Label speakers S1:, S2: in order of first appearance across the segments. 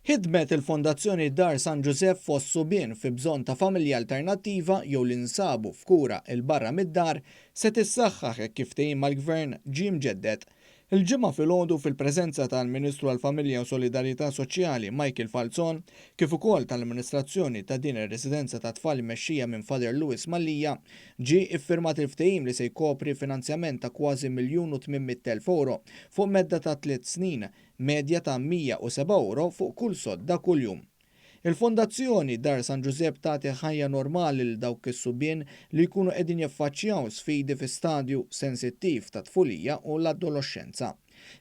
S1: Ħidmet il-Fondazzjoni Dar San Ġużepp fost subien fi bżonn ta' familja alternattiva jew li nsabu f'kura 'l barra mid-dar se tissaħħaħ hekk kif ftehim mal-Gvern ġie mġedded. Il-Ġimgħa filgħodu fil-preżenza tal-Ministru għall-Familja u Solidarjetà Soċjali Michael Falzon kif ukoll tal-amministrazzjoni ta' din ir-residenza tat-tfal immexxija minn Father Louis Mallia, Ġie iffirmat il-ftehim li se jkopri finanzjament ta' kważi miljun u tmien mitt elf ewro fuq medda ta' tliet snin, medja ta' 107 ewro fuq kull sodda kuljum. Il-Fondazzjoni Dar San Ġużepp tagħti ħajja normali lil dawk is-subien li jkunu qegħdin jiffaċċjaw sfidi fi stadju sensittiv tat-tfulija u l-adoloxxenza.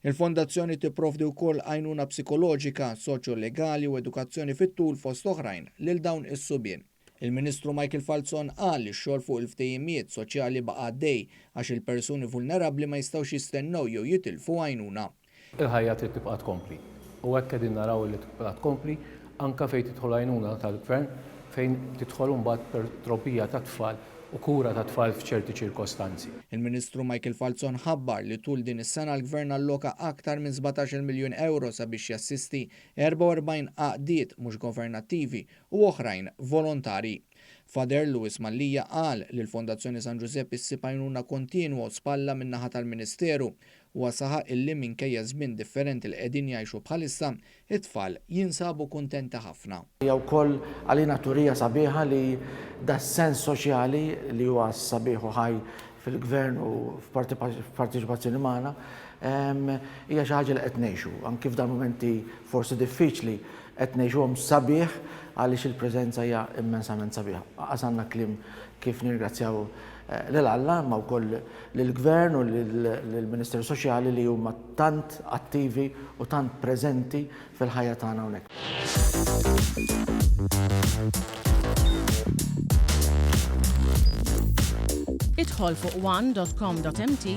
S1: Il-Fondazzjoni tipprovdi wkoll għajnuna psikoloġika, soċjo-legali u edukazzjoni fit-tul fost oħrajn lil dawn is-subien. Il-Ministru Michael Falzon qal li x-xogħol fuq il-ftehimiet soċjali baqa' għaddej għax il-persuni vulnerabbli ma jistgħux jistennew jew jitilfu għajnuna. Il-ħajja trid tibqa'
S2: tkompli u hekk qegħdin naraw li tibqa' tkompli anke fejn tidħol għajnuna tal-Gvern fejn tidħol imbagħad per trobbija tat-tfal u kura tat-tfal f'ċerti ċirkostanzi. Il-Ministru Michael
S1: Falzon ħabbar li tul din is-sena l-Gvern alloka aktar minn sbatax-il miljun ewro sabiex jassisti 44 għaqdiet mhux governattivi u oħrajn volontari. Father Louis Mallia qal li l-Fondazzjoni San Ġużepp issib għajnuna kontinwa u spalla min-naħa tal-ministeru. Huwa saħaq illi minkejja ż-żmien differenti li qegħdin jgħixu bħalissa, it-tfal jinsabu kuntenti ħafna. Hija wkoll
S3: għalina turija sabiħa li das-sens soċjali li huwa sabiħ u ħaj fil-Gvern u f'parteċipazzjoni magħna, hija xi ħaġa li qed ngħixu, anki f'dan mumenti forsi diffiċli Qed ngħixuhom sabiħ għaliex il-preżenza hija immensament sabiħa. Qas għandna kliem kif nirringrazzjaw lil Alla imma wkoll lill-Gvern u lill-Ministeru Soċjali li huma tant attivi u tant preżenti fil-ħajja tagħna hawnhekk.
S4: Idħol fuq one dot com dot mt